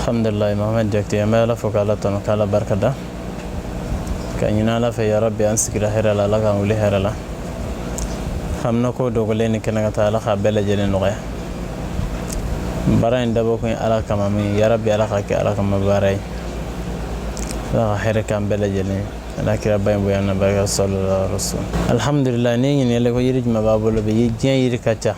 alhamdulillah mohamed jakite an bɛ ala fo k'ala tanu k'ala barika da k'a ɲini ala fɛ yarabi an sigira hɛrɛ la ala k'an wuli hɛrɛ la haminako dogolen ni kɛnɛkanta ala k'a bɛɛ lajɛlen nɔgɔya baara in dabɔ kun ye ala kama min yarabi ala k'a kɛ ala kama baara ye ala ka hɛrɛ k'an bɛɛ lajɛlen ala kiraba in bonya n'a barika sallallahu alaihi wasallam alhamdulillah ne ɲininkali ko yiri jumɛn b'a bolo bi diɲɛ yiri ka ca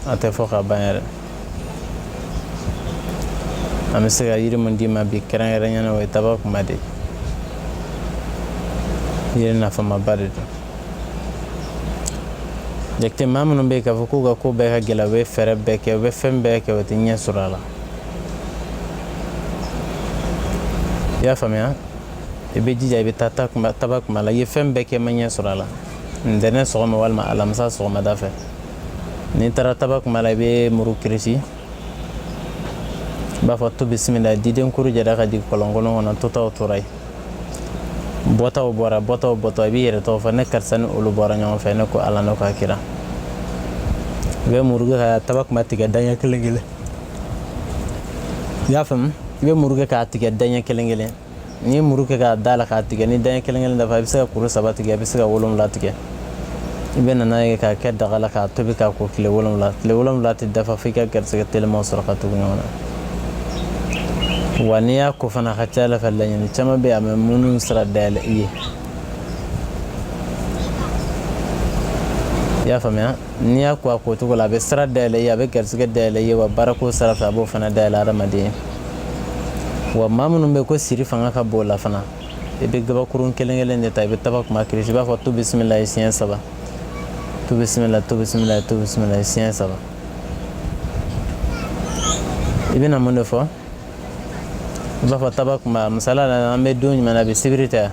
a tɛ fɔ ka ban yɛrɛ an bɛ se ka yiri min d'i ma bi kɛrɛnkɛrɛnya na o ye tabakuma de ye yiri nafamaba de don jakite maa minnu bɛ yen k'a fɔ k'u ka ko bɛɛ ka gɛlɛn u bɛ fɛɛrɛ bɛɛ kɛ u bɛ fɛn bɛɛ kɛ u tɛ ɲɛ sɔrɔ a la i y'a faamuya i bɛ jija i bɛ taa tabakuma la i ye fɛn bɛɛ kɛ ma ɲɛ sɔrɔ a la ntɛnɛn sɔgɔma walima alamisa sɔgɔmada fɛ n'i taara tabakuma la i bɛ muru kirisi i b'a fɔ tu bisimila diden kuru jɛra ka jigin kɔlɔnkolon kɔnɔ totaw tora yen bɔtaw bɔra bɔtaw bɔtɔ i b'i yɛrɛ tɔgɔ fɔ ne karisa ni olu bɔra ɲɔgɔn fɛ ne ko ala n'o ka kira i bɛ muru kɛ ka tabakuma tigɛ daɲɛ kelen kelen i y'a faamu i bɛ muru kɛ k'a tigɛ daɲɛ kelen kelen n'i ye muru kɛ k'a da la k'a tigɛ ni daɲɛ kelen kelen dafa i bɛ se ka kuru saba tigɛ i bɛ se ka wolonwula tigɛ i bɛ na n'a ye k'a kɛ daga la k'a tobi k'a ko tile wolonwula tile wolonwula tɛ dafa f'i ka garisɛgɛ telimaw sɔrɔ ka tugu ɲɔgɔn na wa n'i y'a ko fana ka ca ala fɛ laɲini caman bɛ yen a bɛ minnu sira dayɛlɛ i ye i y'a faamuya n'i y'a ko a ko cogo la a bɛ sira dayɛlɛ i ye a bɛ garisɛgɛ dayɛlɛ i ye wa baarako sira fɛ a b'o fana dayɛlɛ hadamaden ye wa maa minnu bɛ ko siri fanga ka bon u la fana i bɛ gabakurun kelen kelen de ta i bɛ tabakuma kiri i b'a fɔ tu bisimilayi siɲɛ saba tu bisimila tu bisimila tu bisimilayi siɲɛ saba i bɛna mun de fɔ i b'a fɔ tabakuma misaliya la an bɛ don jumɛn na a bɛ sibiri ta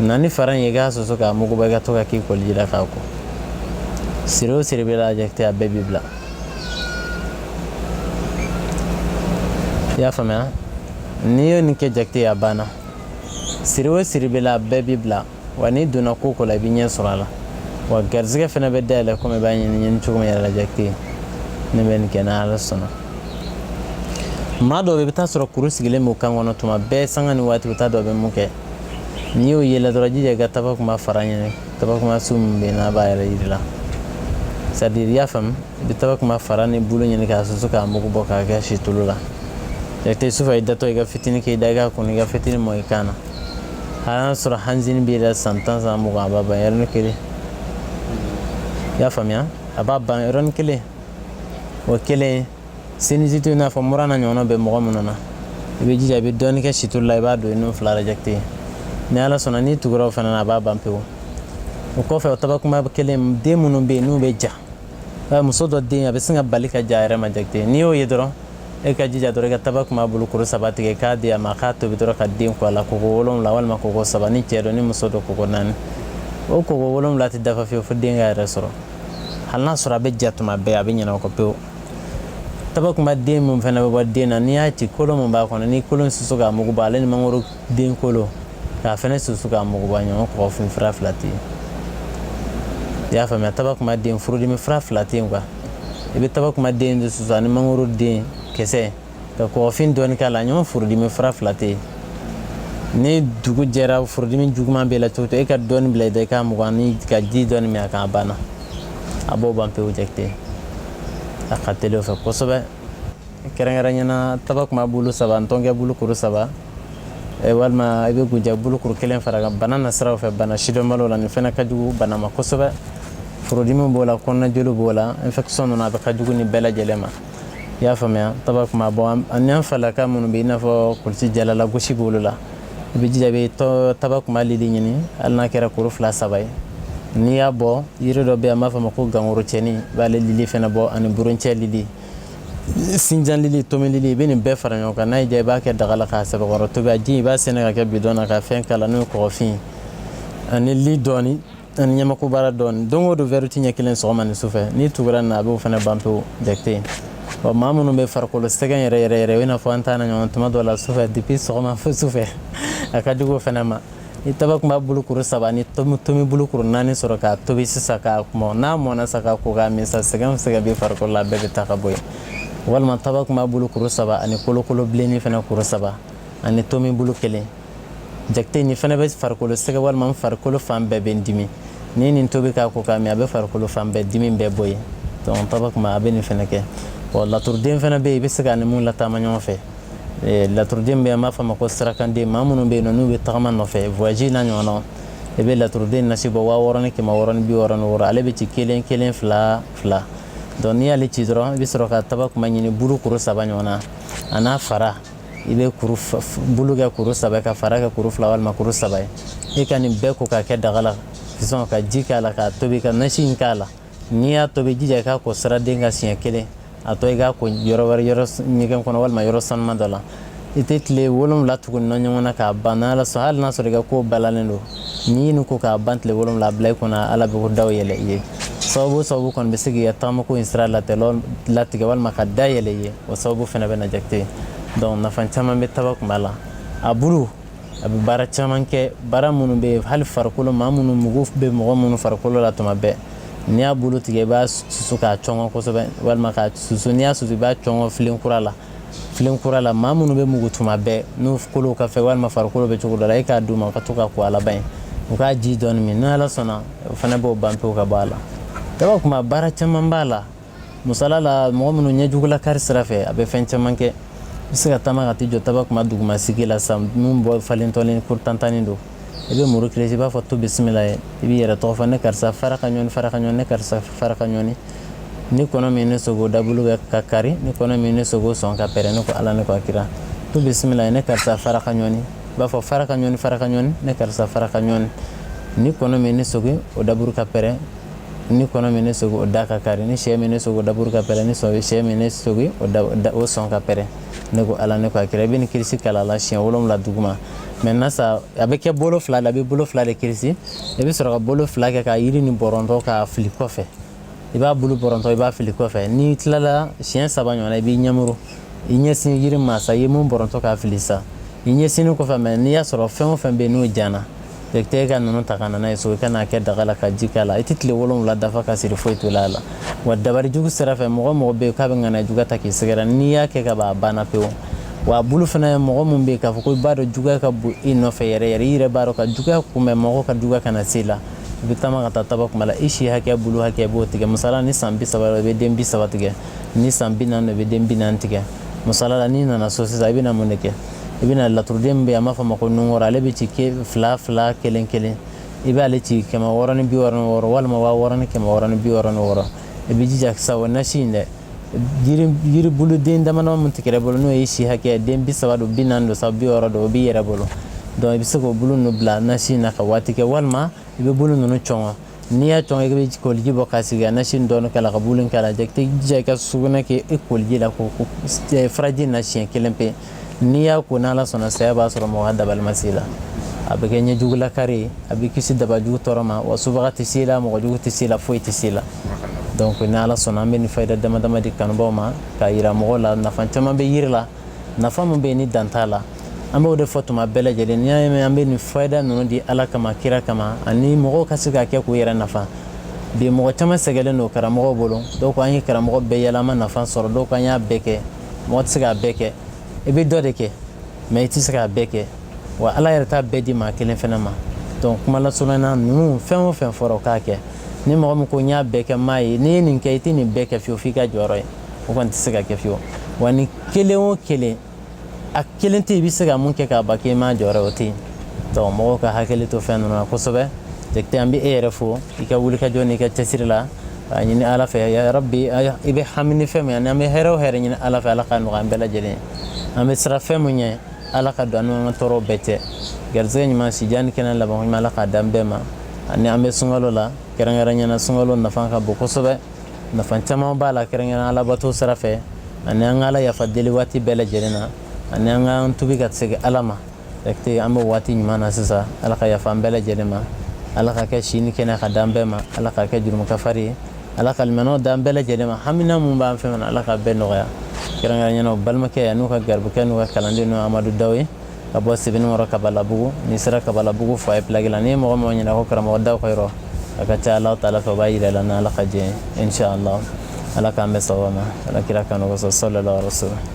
na ni fara in ye k'a susu k'a mugu bɔ i ka to k'a k'i koliji la k'a ko siri o siri b'i la jakite a bɛɛ b'i bila i y'a faamuya n'i ye nin kɛ jakite a banna siri o siri b'i la a bɛɛ b'i bila wa n'i donna ko o ko la i bɛ ɲɛ sɔrɔ a la wa garizigɛ fana bɛ dayɛlɛ komi i b'a ɲɛɲini cogo min yɛrɛ la jakite ne bɛ nin kɛ n'ala sɔnna maa dɔw bɛ i bɛ t'a sɔrɔ kuru sigilen b'u kan kɔnɔ tuma bɛɛ sanga ni waati bɛ taa dɔ bɛ mun kɛ n'i y'o ye i la dɔrɔn jija i ka tabakuma fara ɲini tabakuma sun min bɛ yen n'a b'a yɛrɛ yiri la c'est-à-dire i y'a faamu i bɛ tabakuma fara ni bolo ɲini k'a susu k'a mugu bɔ k'a kɛ situlu la jakite sufɛ i datɔ i ka fitinin k'i da i k'a kunun i ka fitinin mu i kan na hali n'a sɔrɔ angine b'i la san tan san mugan a b'a ban yɔrɔnin kelen i y'a faamuya a b'a ban yɔrɔnin kelen o kelen sinusite i n'a fɔ mura n'a ɲɔgɔnna bɛ mɔgɔ minnu na i bɛ jija i bɛ dɔɔnin kɛ situlu la i b'a don i nun fila ra jakite ni ala sɔnna n'i tugura o fana na a b'a ban pewu o kɔfɛ o tabakunba kelen den minnu bɛ yen n'u bɛ ja eh, muso dɔ den a bɛ sin ka bali ka ja a yɛrɛ ma jakite n'i y'o ye dɔrɔn e ka jija dɔrɔn i ka tabakunba bulu kuru saba tigɛ k'a di a ma k'a tobi dɔrɔn ka den ko a la koko wolonwula walima koko saba ni cɛ don ni muso don koko naani o koko wolonwula tɛ dafa fiyewu fo den ka yɛrɛ sɔrɔ hali n'a sɔrɔ a bɛ ja tuma bɛɛ a bɛ ɲina a kɔ pewu tabakunba den min fana bɛ bɔ den na n'i y'a ci kolo min b'a kɔnɔ ni kolo susu k'a mugu bɔ ale ni mangoro den kolo k'a fana susu k'a mugu bɔ ɲɔgɔn kɔgɔ fin fura fila tɛ yen i y'a faamuya tabakunba den furudimi fura fila tɛ yen quoi i bɛ tabakunba den de susu ani mangoro den kisɛ ka kɔɔfin dɔɔni k'a la ɲɔgɔn furudimi fura fila tɛ yen ni dugu jɛra furudimi juguman b'i la cogo e ka dɔɔni bila i da k'a mugan ni ka ji dɔɔni min a kan a banna a b'o ban pewu jakite a ka teli o fɛ kosɛbɛ kɛrɛnkɛrɛnyana tabakunba bulu saba ani ntɔnkɛ bulu kuru saba Eh, walima i bɛ guja bulukuru kelen fara a kan bana nasiraw fɛ bana sidɔnbaliw la nin fana ka jugu bana ma kosɛbɛ furudimi b'o la kɔnɔnajoli b'o la infection ninnu a bɛ ka jugu nin bɛɛ lajɛlen ma i y'a faamuya tabakunba bɔ ani an falakaw minnu bɛ i n'a fɔ kulusijala lagosi b'olu la i bɛ jija i bɛ tabakunba lili ɲini hali n'a kɛra kuru fila saba ye n'i y'a bɔ yiri dɔ bɛ yen an b'a fɔ a ma ko gangoro cɛni i b'ale lili fana bɔ ani buruncɛ lili sinjan lili tomi lili i bɛ nin bɛɛ fara ɲɔgɔn kan n'a y'i diya i b'a kɛ daga la k'a sɛbɛkɔrɔ tobi a ji i b'a sɛɛnɛ k'a kɛ bidɔn na ka fɛn k'a la n'o ye kɔgɔfin ye ani li dɔɔni ani ɲamakubara dɔɔni don o don wɛri ti ɲɛ kelen sɔgɔma ni sufɛ n'i tugura nin na a b'o fana ban pewu jakite wa maa minnu bɛ farikolo sɛgɛn yɛrɛ yɛrɛ yɛrɛ o i n'a fɔ an ta n'a ɲɔgɔn tuma dɔ la sufɛ depuis sɔgɔma fo sufɛ a ka jugu o fana ma ni tabakunba bulu kuru saba ni tomi bulu kuru naani sɔrɔ k'a tobi sisan k'a mɔ n'a mɔna sa k'a ko k'a min sa sɛgɛn o sɛgɛn bɛ farikolo la a bɛɛ bɛ taa ka bɔ yen walima tabakunba bulu kuru saba ani kolokolo bilenni fana kuru saba ani tomi bulu kelen jakite nin fana bɛ farikolo sɛgɛn walima farikolo fan bɛɛ bɛ n dimi ni nin tobi k'a ko k'a min a bɛ farikolo fan bɛɛ dimi bɛɛ bɔ yen donc tabakunba a bɛ nin fana kɛ wa laturuden fana bɛ yen i bɛ se ka ni mun lataama ɲɔgɔn fɛ eh, laturuden bɛ yen an b'a fɔ a ma ko sirakanden maa minnu bɛ yen n'u bɛ tagama nɔfɛ voyage n'a ɲɔgɔnnaw i bɛ laturuden nasi bɔ waa wɔɔrɔ ni kɛmɛ wɔɔrɔ ni bi wɔɔrɔ ni wɔɔrɔ ale bɛ ci kelen kelen fila fila donc n'i y'ale ci dɔrɔn i bɛ sɔrɔ ka tabakunba ɲini bulu kuru saba ɲɔgɔn na a n'a fara i bɛ bulu kɛ kuru saba ka fara kɛ kuru fila walima kuru saba ye e ka nin bɛɛ ko k'a kɛ daga la sɔn ka ji k'a la k'a tobi ka nasi in k'a la n'i y'a tobi jija i k'a ko siraden kan siɲɛ kelen a tɔ i k'a ko yɔrɔ wɛrɛ yɔrɔ ɲɛgɛn kɔnɔ walima yɔrɔ sanuma dɔ la i tɛ tile wolonwula tuguni na ɲɔgɔn na k'a ban n'ala sɔn hali n'a sɔrɔ i ka ko balalen don n'i ye nin ko k'a ban tile wolonwula bila i kunna ala bɛ ko daw yɛlɛ i ye sababu sababu kɔni bɛ se k'i ka taamako in sira latigɛ walima ka da yɛlɛ i ye o sababu fana bɛ na jakite donc nafa caman bɛ tabakunba la a bulu a bɛ baara caman kɛ baara minnu bɛ hali farikolo maa minnu mugu bɛ mɔgɔ minnu farikolo la tuma bɛɛ n'i y'a bulu tigɛ i b'a susu k'a cɔngɔ kosɛbɛ walima k'a susu n'i y'a susu i b'a cɔngɔ filen kura la filen kura la maa minnu bɛ mugu tuma bɛɛ n'u kolow ka fɛ walima farikolo bɛ cogo dɔ la e k'a d'u ma u ka to ka ko a laban ye u k'a ji dɔɔni min n'ala sɔnna o fana b'o ban pewu ka bɔ a la tabakunba baara caman b'a la musala la mɔgɔ minnu ɲɛjugu lakari sira fɛ a bɛ fɛn caman kɛ i bɛ se ka taama ka t'i jɔ tabakunba dugumasigi la sa min bɔ falen tɔlen ko tantanni don i bɛ muru kirisi i b'a fɔ tu bisimilayi i b'i yɛrɛ tɔgɔ fɔ ne karisa fara ka ɲɔni fara ka ɲɔni ne karisa fara ka ɲɔni ni kɔnɔ min ne sɔgɔ daburu bɛ ka kari ni kɔnɔ min ne sɔgɔ sɔn ka pɛrɛn ne ko ala ne ko a kira tu bisimilayi ne karisa fara ka ɲɔni i b'a fɔ fara ka ɲɔni fara ka ɲɔni ne karisa fara ka ɲɔni ni kɔnɔ min ne sɔgɔ o daburu ka pɛrɛn ni kɔnɔ min ne sɔgɔ o da ka kari ni sɛ min ne sɔgɔ daburu ka pɛrɛn ni sɔn sɛ min ne sɔgɔ o da o sɔn ka pɛrɛn ne ko ala ne ko a kira i bɛ nin kirisi kalan a la siɲɛ wolonwula duguma maintenant sa a bɛ kɛ bolo fila la a bɛ bolo fila de kirisi i bɛ sɔrɔ ka bolo fila kɛ ka yiri nin bɔrɔntɔ k'a fili kɔfɛ i b'a bulu bɔrɔntɔ i b'a fili kɔfɛ n'i tilala siɲɛ saba ɲɔgɔnna i b'i ɲɛmuru i ɲɛsin yiri ma sa i ye min bɔrɔntɔ k'a fili sa i ɲɛsinni kɔfɛ mais n'i y'a sɔrɔ fɛn o fɛn bɛ yen n'o jana e tɛ e ka ninnu ta ka na n'a ye so i ka n'a kɛ daga la ka ji k'a la i tɛ tile wolonwula dafa ka siri foyi to a la wa dabari jugu sira fɛ mɔgɔ mɔgɔ bɛ yen k'a bɛ ŋana juguya ta k'i sɛgɛrɛ n'i y'a kɛ ka ban a banna pewu wa a bulu fana mɔgɔ min bɛ yen k'a fɔ ko i b'a dɔn juguya ka bon i nɔfɛ yɛrɛ yɛrɛ i yɛrɛ b'a dɔn ka juguya kunbɛn mɔgɔ ka juguya kana se la i bɛ taama ka taa tabakunba la i si hakɛ bulu hakɛ b'o tigɛ masala ni san bi saba i bɛ den bi saba tigɛ ni san bi naani i bɛ den bi naani tigɛ masala la n'i nana so sisan i bɛna mun de kɛ i bɛna lɛtiriden min bɛ yen an b'a fɔ a ma ko nungɔrɔ ale bɛ ci fila fila kelen kelen i b'ale ci kɛmɛ wɔɔrɔ ni bi wɔɔrɔ ni wɔɔrɔ walima waa wɔɔrɔ ni kɛmɛ wɔɔrɔ ni bi wɔɔrɔ ni wɔɔrɔ i bɛ jija sa o nasi in dɛ yiribuluden damadama min tigɛra bolo n'o ye si hakɛ den bi saba don bi naani don sa bi wɔɔrɔ don o b'i yɛrɛ bolo donc i bɛ se k'o bulu ninnu bila nasi in na ka waati kɛ walima i bɛ bulu ninnu cɔngɔ N'i y'a cɔngɔ i bɛ koliji bɔ k'a sigi ka nasi in dɔɔni k'a la ka bulu in k'a la i tɛ jija i ka sugunɛ kɛ i koliji la ko furaji in na siɲɛ kelen pe n'i y'a ko n'ala sɔnna saya b'a sɔrɔ mɔgɔ ka dabali ma se la a bɛ kɛ ɲɛjugu lakari ye a bɛ kisi dabajugu tɔɔrɔ ma wa subaga tɛ se la mɔgɔ jugu tɛ se la foyi tɛ se la donc ni ala sɔnna an bɛ nin fayida damadama di kanubaw ma k'a jira mɔgɔw la nafa caman bɛ jiri la nafa min bɛ yen ni dan t'a la an b'o de fɔ tuma bɛɛ lajɛlen n'i y'a ye an bɛ nin fayida ninnu di ala kama kira kama ani mɔgɔw ka se k'a kɛ k'u yɛrɛ nafa bi mɔgɔ caman sɛgɛnlen don karamɔgɔw bolo dɔw ko an ye karamɔgɔ bɛɛ yɛlɛ an ma nafa sɔrɔ dɔw ko an y'a bɛɛ kɛ mɔgɔ tɛ se k'a bɛɛ kɛ i bɛ dɔ de kɛ mɛ i tɛ se k'a bɛɛ kɛ wa ala yɛrɛ t'a bɛɛ di maa kelen fana ma donc kuma lasurunya ninnu fɛn o fɛn fɔra o k'a kɛ ni mɔgɔ min ko n y'a bɛɛ kɛ m'a ye n'i ye nin kɛ i tɛ nin bɛɛ kɛ fiyewu f'i ka jɔyɔrɔ ye o kɔni tɛ se ka kɛ fiyewu wa ni kelen o kelen a kelen tɛ i bɛ se ka mun kɛ k'a ban k'i ma jɔyɔrɔ o tɛ yen donc mɔgɔw ka hakili to fɛn ninnu na kosɛbɛ jakite an bɛ e yɛrɛ fo i ka wulikajɔ n'i ka cɛsiri la a ɲini ala fɛ ya rabbi i bɛ hami ni fɛn min ani an bɛ hɛrɛ o hɛrɛ ɲini ala fɛ ala k'a nɔgɔya an bɛɛ lajɛlen an bɛ siran fɛn min ɲɛ ala ka don an ka tɔɔrɔw bɛɛ cɛ garisɛgɛ ɲuman sijan ni kɛnɛ laban ɲuman ala k'a d'an bɛɛ ma ani an bɛ sunkalo la kɛrɛnkɛrɛnya na sunkalo nafa ka bon kosɛbɛ nafa caman b'a la kɛrɛnkɛrɛn alabato sira fɛ ani an ka ala yafa deli waati bɛɛ lajɛlen na ani an ka an tubi ka segin ala ma jakite an bɛ waati ɲuman na sisan ala ka yafa an bɛɛ lajɛlen ma ala k'a kɛ si ni kɛnɛ k'a d'an bɛɛ ma ala k'a kɛ jurumu kafari ye ala ka limaniya d'an bɛɛ lajɛlen ma haminan min b'an fɛ fana ala k'a bɛɛ nɔgɔya kɛrɛnkɛrɛnya na aw balimakɛ an'aw ka garibukɛ n'aw ka kalanden n'o amadu daw ye ka bɔ sebenikɔrɔ kabalabugu n'i sera kabalabugu foyer pilaki la n'i ye mɔgɔ o mɔgɔ ɲininka ko karamɔgɔ daw ka yɔrɔ a ka ca ala taala fɛ o b'a yira i la ni ala ka jɛn ye inshallah ala k'an bɛn sababu ma ala kira kanu kosɔn sallallahu alaihi wasallam